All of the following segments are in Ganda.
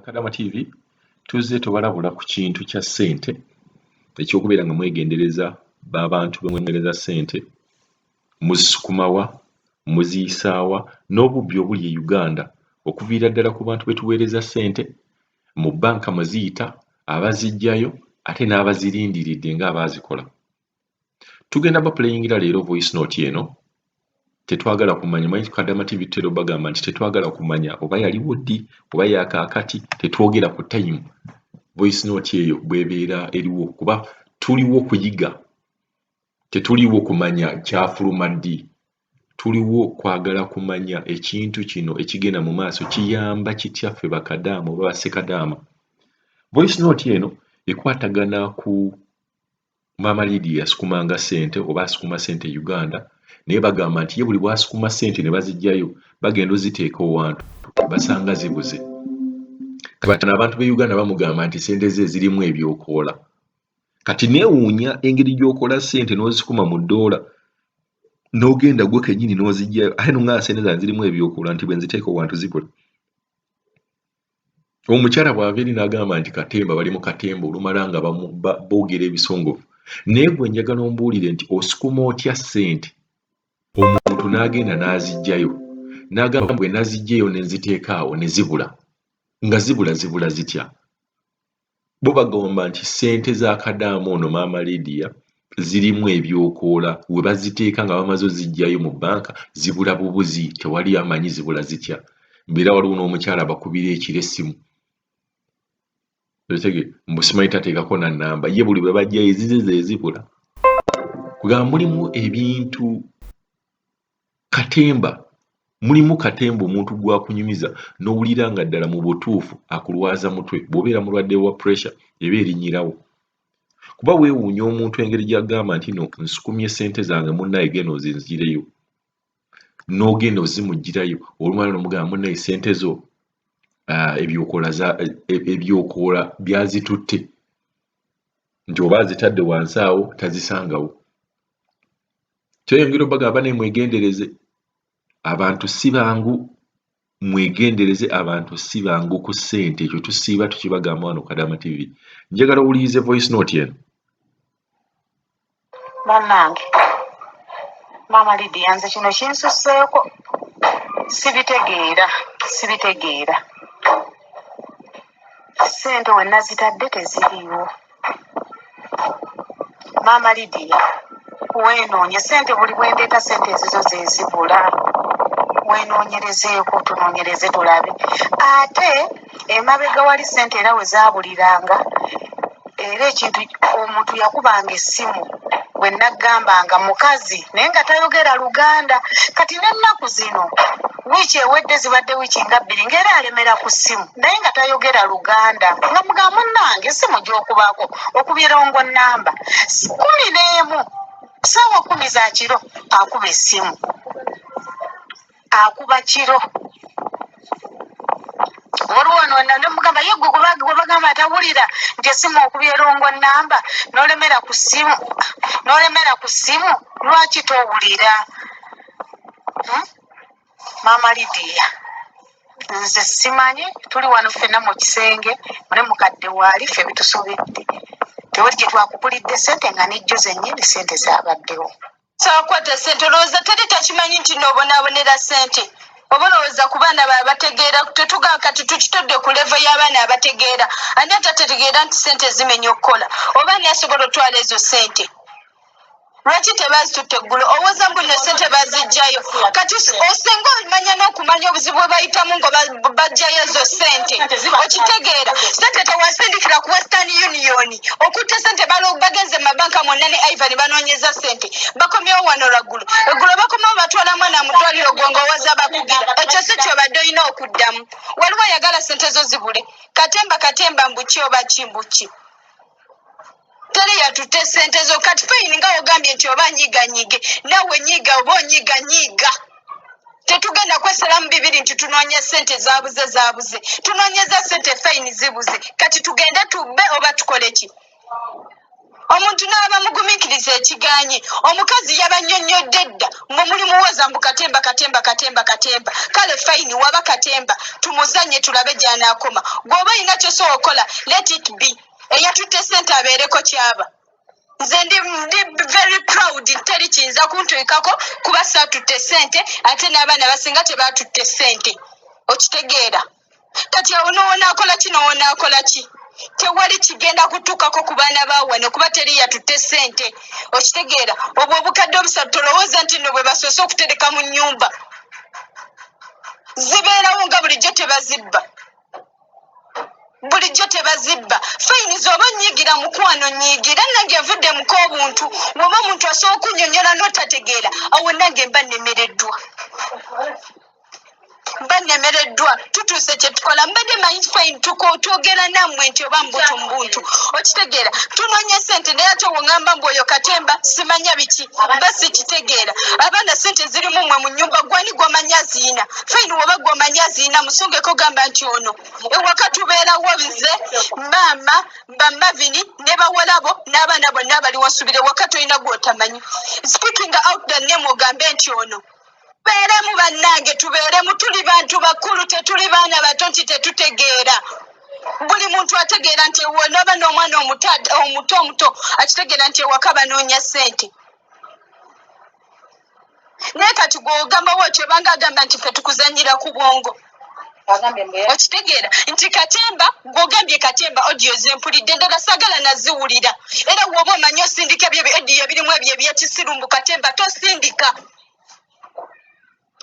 kadama tv tuzze tubalabula ku kintu kya ssente ekyokubeera nga mwegendereza babantu bemwemereza ssente muzisukumawa muziyisaawa n'obubbi obuli e uganda okuviira ddala ku bantu betuweereza ssente mu bbanka mweziyita abazijjayo ate n'abazirindiridde nga abaazikola tugenda bapuleyingira leero voice note eno tetwagala kumanya manyi kadama tv tutera obagamba nti tetwagala kumanya oba yaliwo ddi oba yakaakati tetwogera ku time voice note eyo bwebeera eriwo kuba tuliwo kuyiga tetuliwo kumanya kyafuluma ddi tuliwo kwagala kumanya ekintu kino ekigenda mu maaso kiyamba kitya ffe bakadaama oba basekadaama voice note eno ekwatagana ku maama lidiya yasukumanga sente oba asukuma sente e uganda naye bagamba nti ye buli bwasukuma sente ne bazijjayo bagenda oziteeka owantu basanga zibuze kabatano abantu be uganda bamugamba nti sente ze zirimu ebyokoola kati neewuunya engeri gyokola sente n'ozikuma mu ddoola n'ogenda gwe kenyini n'ozijjayo ate nonga sente zange zirimu ebyokoola nti bwenziteeka owantu zibula omukyala bw'ava eri n'agamba nti katemba bali mu katemba olumala nga boogera ebisongovu naye gwe njagala ombuulire nti osukuma otya ssente omuntu n'agenda n'aziggyayo n'agamba bwe naziggyeyo ne nziteeka awo ne zibula nga zibula zibula zitya bo bagamba nti ssente za kadaama ono maama Lydia zirimu ebyokoola we baziteeka nga bamaze oziggyayo mu bbanka zibula bubuzi tewali amanyi zibula zitya mbeera waliwo n'omukyala abakubira ekiro essimu otege mbu simanyi tateekako na nnamba ye buli bwe bajjayo ezize ze zibula kugamba mulimu ebintu Katemba, Mulimu katemba omuntu gw'akunyumiza n'owulira nga ddala mu butuufu akulwaza mutwe. Bw'obeera mulwadde wa puresha eba erinnyirawo kuba weewuunya omuntu engeri gy'agamba nti no nsukumye ssente zange munnaye genda ozinzireyo. N'ogenda ozimugirayo olumala n'omugamba munnaye ssente zo ah, ebyokola e, ebyokola byazitutte nti oba azitadde wansi awo tazisangawo. kyeyongera obagamba naye mwegendereze abantu si bangu mwegendereze abantu si bangu ku ssente ekyo tusiiba tukibagamba wano kadama tv njagala owulirize voice note eno banange maama lidia nze kino kinsuseeko sibitegeera sibitegeera ssente wenazitadde teziriiwo maama lidiya wenoonye sente buli bwendeeta sente ezizo zezibula wenoonyerezeeko tunoonyereze tulabe ate emabega wali sente era we zaabuliranga era ekintu omuntu yakubanga essimu bwe naggambanga mukazi naye nga tayogera luganda kati n'ennaku zino wiiki ewedde zibadde wiiki nga bbiri ngaera alemera ku ssimu naye nga tayogera luganda nga muga munange simu gyokubaako okubirongo namba kumi n'emu saawa kumi za kiro akuba essimu akuba kiro waliwo nona nemugamba ye gwe gwebagamba atawulira nti esimu okuba erongo namba nolemera ku simu nolemera ku simu lwaki towulira hmm? maama lidiya nze simanyi tuli wano ffena mu kisenge mune mukadde waali ffe bitusobedde tewali gye twakugulidde sente nga nejjo zennyini sente zabaddewo kyakwata sente olowooza teri takimanyi nti noobonabonera sente oba olowooza ku baana ba bategeera tetugaa kati tukitodde ku levo y'abaana abategeera ani atategeera nti sente zimenya okukola oba ani asobola otwala ezo sente lwaki tebazitutte eggulo owoza mbu ne sente bazijjayo kati osinga omanya n'okumanya obuzibu bwe bayitamu nga bajjayo ezo sente okitegeera sente tewasindikira ku western union okutta sente bagenze mu mabanka mwonna ne ivan banoonyeza sente bakomyewo wano lwaggulu eggulo bakomawo batwala mwana mu ddwaliro gwe nga owoza bakugira ekyo si kyobadde olina okuddamu waliwo ayagala sente zo zibule katemba katemba mbuki oba ki mbuki teri yatutte sente zo kati payini nga ogambye nti oba nyiganyige nawe nyiga oba onyiga nyiga tetugenda kwesalamu bibiri nti tunoonya sente zabuze zabuze tunoonyeza sente fayini zibuze kati tugende tubbe oba tukole ki omuntu n'aba mugumikiriza ekiganye omukazi yabanyonyodde dda mwe muli muwoza mbu katemba katemba katemba katemba kale fayini waba katemba tumuzanye tulabe gyanakoma gweoba olina kyosobola okukola let it be eyatutte sente abeereko kyaba nze ndi ndi very proud teri kiyinza kuntuikako kuba saatutte sente ate n'abaana basinga tebaatutte sente okitegeera kati awo nowonaakola ki nowonaakola ki tewali kigenda kutuukako ku baana bawano kuba teri yatutte sente okitegeera obwo obukadde obusatu tolowooza nti no bwe basoose okutereka mu nyumba zibeerawo nga bulijjo tebazibba bulijjo tebazibba fayini zoba onyigira mukwano nyigira nange nvudde muko obuntu woba omuntu asobola okunyonyola notategeera awo nange mba nemereddwa mba nemereddwa tutuuse kyetukola mbadde manyi fayini twogera nammwe nti oba mbutu mbuntu okitegeera tunonya sente naye ate wongamba mbu oyo katemba simanya biki mba sikitegeera abaana sente zirimu mwe mu nyumba gwani gwomanyi aziyina fine woba gwe omanyi azirina musungeko gamba nti ono ewaka tubeerawo bize maama bamavini ne bawalabo n'abaana bonna abali wasubira ewaka tolina gwotamanyi speaking out the name ogambe nti ono tubeeremu bannange tubeeremu tuli bantu bakulu tetuli baana bato nti tetutegeera buli muntu ategeera nti wonaba n'omwana omuto omuto akitegeera nti ewaka banoonya ssente naye kati gwogamba watyo obanga agamba nti fe tukuzanyira ku bwongo okitegeera nti katemba gwogambye katemba odiyo zempulidde endala sagala naziwulira era woba omanyi osindika ebyo odiyo ebirimu ebyo ebyekisiru mbu katemba tosindika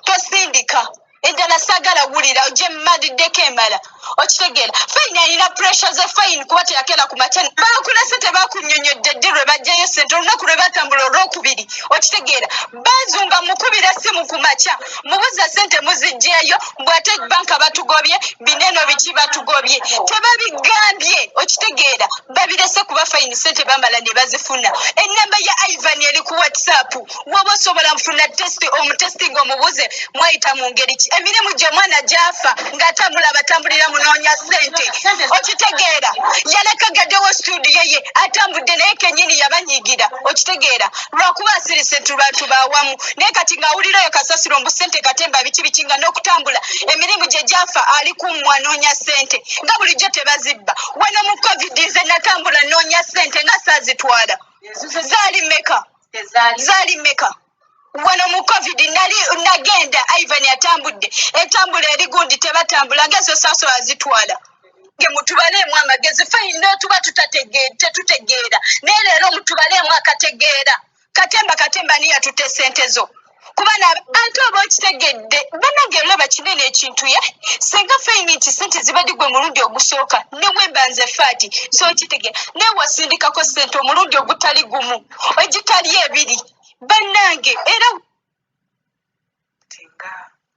tosindika eddala sagala wulira oje madiddeko emala okitegeera fayini alina puresha za fayini kuba teyakera ku matene bakulese tebakunyonyodde ddi lwe bajjayo sente olunaku lwe batambula olwokubiri okitegeera bazunga mukubira simu ku makya mubuza sente muzijjeeyo bwate banka batugobye bineno biki batugobye tebabigambye okitegeera babirese kuba fayini sente bamala ne bazifuna ennamba ya ivan eri ku whatsapp woba osobola kufuna testi omutesti nga omubuze mwayita mu ngeri ki emirimu gye omwana gyafa ng'atambula abatambulira munoonya sente okitegeera yalekagaddewo situdiyo ye atambudde naye kenyini yabanyigira okitegeera lwakuba asirise nti lwatu bawamu naye kati ng'awulira oyo kasasiro mbu sente katemba biki biki nga n'okutambula emirimu gye gyafa ali ku mwanoonya sente nga bulijjo tebazibba wano mu covid nze natambula noonya sente nga saazitwala zaali meka zaali meka wano mu covid nali nagenda ivan atambudde etambula eri gundi tebatambula nga ezo saaso azitwala ge mutubaleemu amagezi fayina tuba tetutegeera naye leero mutubaleemu akategeera katemba katemba niya tute sente zo kubana ante oba okitegedde banange olaba kinene ekintu ye singa feyini nti sente zibadde gwe mulundi ogusooka newemba nze faati so okitegera naye wasindikako sente omulundi ogutali gumu egitali ebiri banange era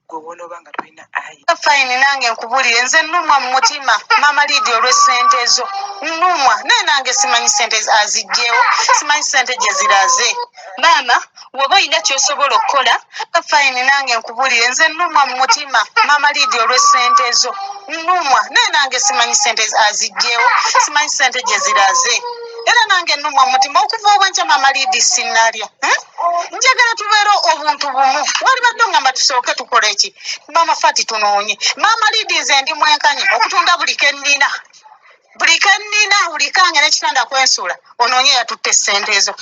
gwe wonoba nga tolina ayi fine nange nkubulire nze numwa mumutima mama lidi olwesente zo numwa naye nange simanyi sente azijjewo simanyi sente gyeziraze maama woba olina kyosobola okukola fine nange nkubulire nze numwa mumutima mama lidi olwesente zo numwa naye nange simanyi sente azijjewo simanyi sente gyeziraze era nange numwa mumutima okuva obwenkya mama lidi sinalya eh? njagala tubeere obuntu bumu walibadde ogamba tusooke tukola eki maama fati tunoonye maama lidize ndi mwenkanye okutunda buli kennina buli kennina buli kange nekitanda kwensula onoonye yatutte esente ezo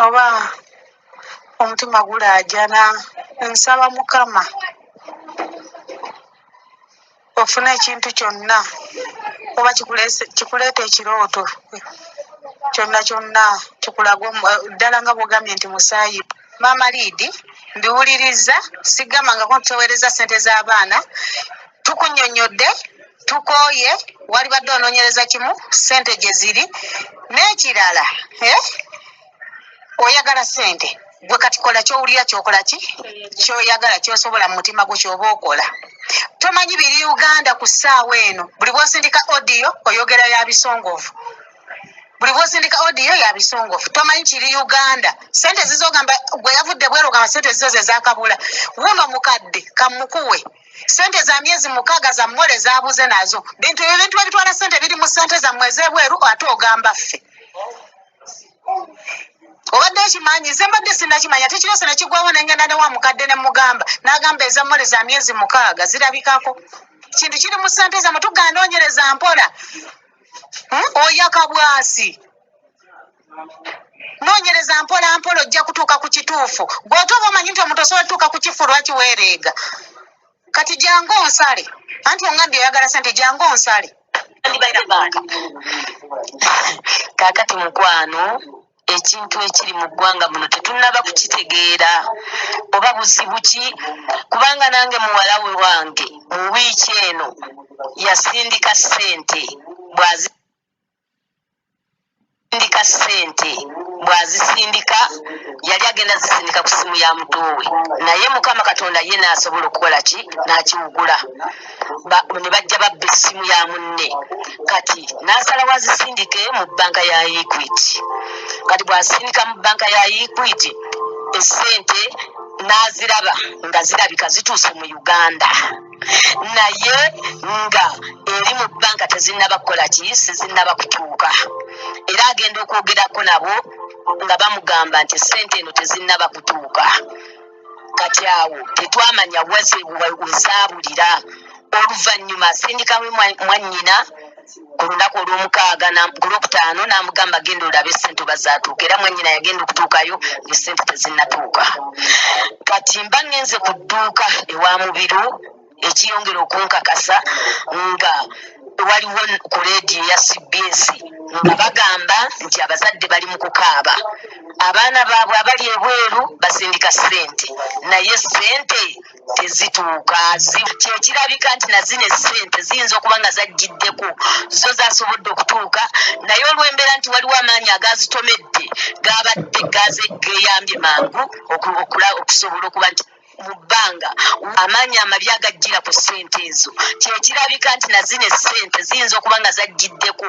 oba omutima gulaajana nsaba mukama ofuna ekintu kyonna oba kikuleeta ekirooto kyonna kyonna kikulaga eh, ddala nga bwogambye nti musaayi maama liidi mbiwuliriza sigamangako ntuteweereza sente z'abaana tukunyonyodde tukooye walibadde onoonyereza kimu sente gye ziri n'ekirala eh? oyagala sente gwe kati kola kyowulira kyokola ki kyoyagala kyosobola mu mutima gwo kyoba okola tomanyi biri uganda ku ssaawa eno buli bwosindika odiyo oyogera ya bisongovu buli bwosindika odiyo ya bisongovu tomanyi kiri uganda sente zizogamba gwe yavudde bwerogamba sente zizo zezakabula wuno mukadde kamukuwe sente za myezi mukaaga za mmole zabuze nazo bintu ebintu ebitwala sente biri mu sente zammwe ezebweru ate ogamba ffe obadde okimanyi nze mbadde sinakimanya tekirese nekigwawo nengenda ne wa mukadde ne mugamba n'agamba eza mole za myezi mukaaga zirabikako kintu kiri mu sente zamwe tuganoonyereza mpola hmm? oyakabwasi noonyereza mpola mpola ojja kutuuka ku kituufu gweote oba omanyi nti omuntu osobola tuuka ku kifu lwaki weereega kati jangu onsale anti ongambye oyagala sente jangu onsale kakati mukwano ekintu ekiri mu ggwanga muno tetunaba kukitegeera oba buzibu ki kubanga nange muwala we wange mu wiiki eno yasindika ssente bwazi sindika sente bwazisindika yali agenda zisindika ku simu ya mutuwe naye mukama katonda ye nasobola okukola ki nakiwugula ne bajja babba essimu ya munne kati nasala wazisindike mu banka ya equit kati bwasindika mu banka ya equit esente naziraba nga zirabika zituuse mu uganda naye nga eri mu banka tezinaba kukola ki sizinaba kutuuka era agenda okwogerako nabo nga bamugamba nti sente eno tezinaba kutuuka kati awo tetwamanya wazebuzabulira oluvanyuma asindikamu mwanyina Ku lunaku olw'omukaaga na ku lwokutaano n'amugamba genda olabe ssente oba zaatuuka era mwannyina yagenda okutuukayo nga ssente tezinnatuuka. Kati mba ngenze ku dduuka ewa Mubiru ekiyongera okunkakasa nga waliwo ku leediyo ya CBS nga bagamba nti abazadde bali mu kukaaba abaana baabwe abali ebweru basindika ssente naye ssente tezituuka kyekirabika nti nazino esente ziyinza okuba nga zajjiddeko zo zasobodde okutuuka naye olwembeera nti waliwo amaanyi agazitomedde gabadde gaze geyambye mangu okusobola okuba nti mu bbanga amaanyi amabi agajjira ku sente ezo kyekirabika nti nazino esente ziyinza okuba nga zajjiddeko